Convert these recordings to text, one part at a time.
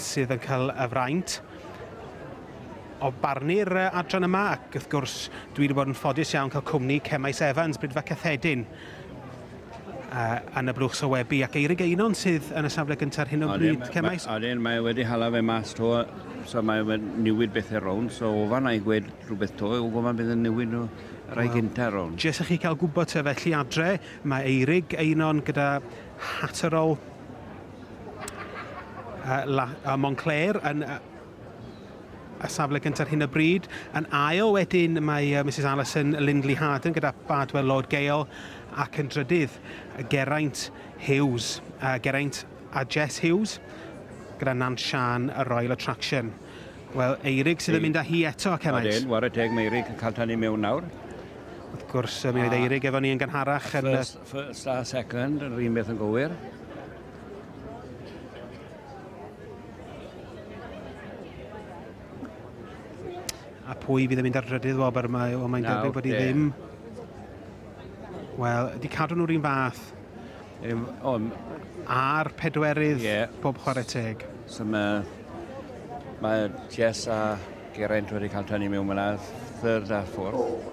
sydd yn cael y fraint o barnu'r adran yma ac wrth gwrs dwi wedi bod yn ffodus iawn cael cwmni Cemais Evans, Brydfa Cyffedin yn y blwch sowebu ac Eirig Einon sydd yn y safle gyntaf ar hyn o bryd. Cemais... Odyn, mae wedi hala fe mas to, so mae wedi newid bethau rownd, so ofan na'i gwed rhywbeth to, o gofan bydd yn newid nhw rai gyntaf rownd. Jes i chi cael gwybod te felly adre, mae Eirig Einon gyda Hatterol uh, Montclair yn uh, y safle gyntaf hyn o bryd. Yn ail wedyn mae uh, Mrs Allison Lindley Harden gyda Badwell Lord Gale ac yn drydydd Geraint Hughes, uh, Geraint a Jess Hughes gyda Nan Sian y Royal Attraction. Wel, Eirig sydd yn mynd â hi eto, Ceraint. Odyn, war y teg mae Eirig yn cael tan i mewn nawr. Wrth gwrs, mi oedd Eirig efo ni yn gynharach yn... First, First a second, yr un beth yn gywir. A pwy fydd yn mynd ar drydydd wobr yma? O, mae'n debyg bod i ddim. Wel, di cadw nhw'r un fath. Um, um, A'r pedwerydd, yeah. pob chwarae teg. So mae, mae Jess a Geraint wedi cael tynnu mewn fyna, third a fourth.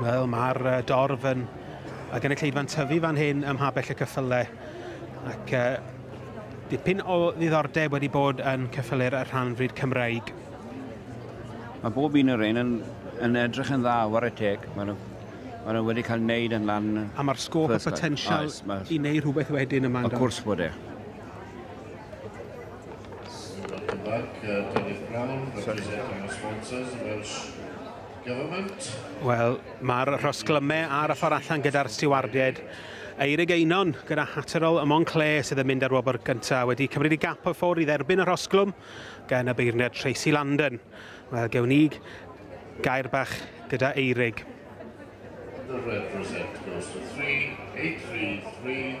Wel, mae'r uh, dorf yn a gynulleidfa'n tyfu fan hyn ym Mhabell y Cyffylau. Ac uh, dipyn o ddiddordeb wedi bod yn cyffylu'r rhan fryd Cymraeg. Mae bob un o'r ein yn, yn edrych yn dda, war y teg. Mae Mae nhw wedi cael wneud yn lan... A mae'r sgôp a potensial i wneud rhywbeth wedyn yma. Of course bod e. Welcome back, uh, Dynydd Brown, representing our sponsors, the Welsh Government. Wel, mae'r rhosglymau ar y ffordd allan gyda'r stiwardiaid. Eirig Einon gyda Hatterol y Monclair sydd yn mynd ar wobr gyntaf wedi cymryd i gap o ffwrdd i dderbyn y rhosglwm gan y beirniad Tracy Landon. Wel, gewn ni gair bach gyda Eirig. The red rosette goes to 3, 8, 3, 3.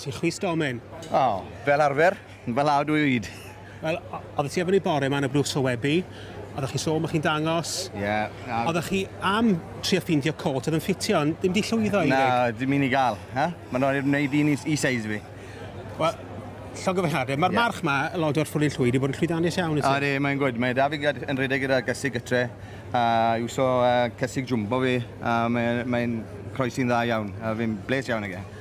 Ti'n chwys domen. O, fel arfer, yn fy law dwy oed. Wel, oedd ti efo ni bore yma yn y Bruce o Weby, oeddech chi'n sôn bod chi'n dangos. Ie. Yeah, oeddech chi am trio ffeindio cot oedd yn ffitio, ond dim di llwyddo i Na, dim un i gael. Ha? Mae'n rhaid wneud un i, i seis fi. Wel, llongyfarchiadau. Mae'r yeah. march yma, y lod o'r ffwrdd llwyd, i bod yn llwyddiannus iawn. A di, mae'n gwyd. Mae David yn rhedeg gyda gysig gytre. A yw so uh, cysig jumbo fi. A mae'n mae croesi'n dda iawn. A fi'n bles iawn ag e.